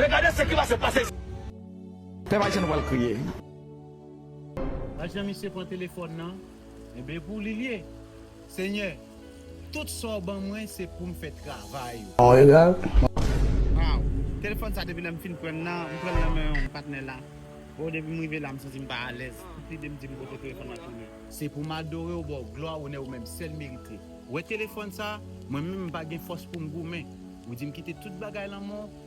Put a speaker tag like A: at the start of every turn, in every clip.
A: E gade se ki pase pase isit. Pèp ayisyen nou pral kriye. Gad
B: jan misye pran telefòn nan enben pou li liye senyè tout sa w ban mwen se poum fè travay ou. An egal.
C: Waw
B: telefòn sa depi lèm fin prann nan m prann nan men yon patnè la oh depi m rive la m santim pa alèz tout lide m dim kote telefòn nan tounen. Se pou m adorew baw glwa onè ou menm sèl merite wè telefòn sa mwen menm m pa gen fòs poum goumen ou dim kite tout bagay lanmò.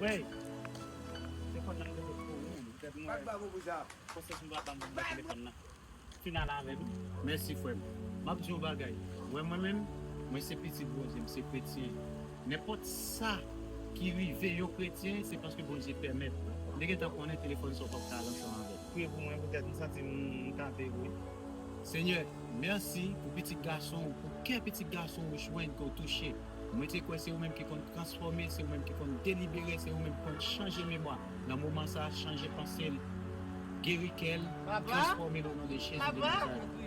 B: Wey telefon nan rete sou ou menm tet mwen. Pat babo pou sa. Konsèy m papa m banm nan telefon nan fin al avèm. Mèsi frèm map diw yon bagay wè mwen menm mwen se pitit Bondye m se kretyen nenpòt sa ki rive yon kretyen se paske Bondye pèmèt m te gentan konnen telefòn sa w pap ka al ansanm avèl. Priye pou mwen poutèt m santi m tante wi. Senyè mèsi pou pitit gasonw pou kè pitit gasonw jwenn ke w touche. Mwen te kwè se ou menm ki konn transfòme, se ou menm ki konn delibere, se ou menm ki konn chanje memwa nan moman sa, chanje panse l, geri kè l, transfòme l o non de Jezi de Nazarèt.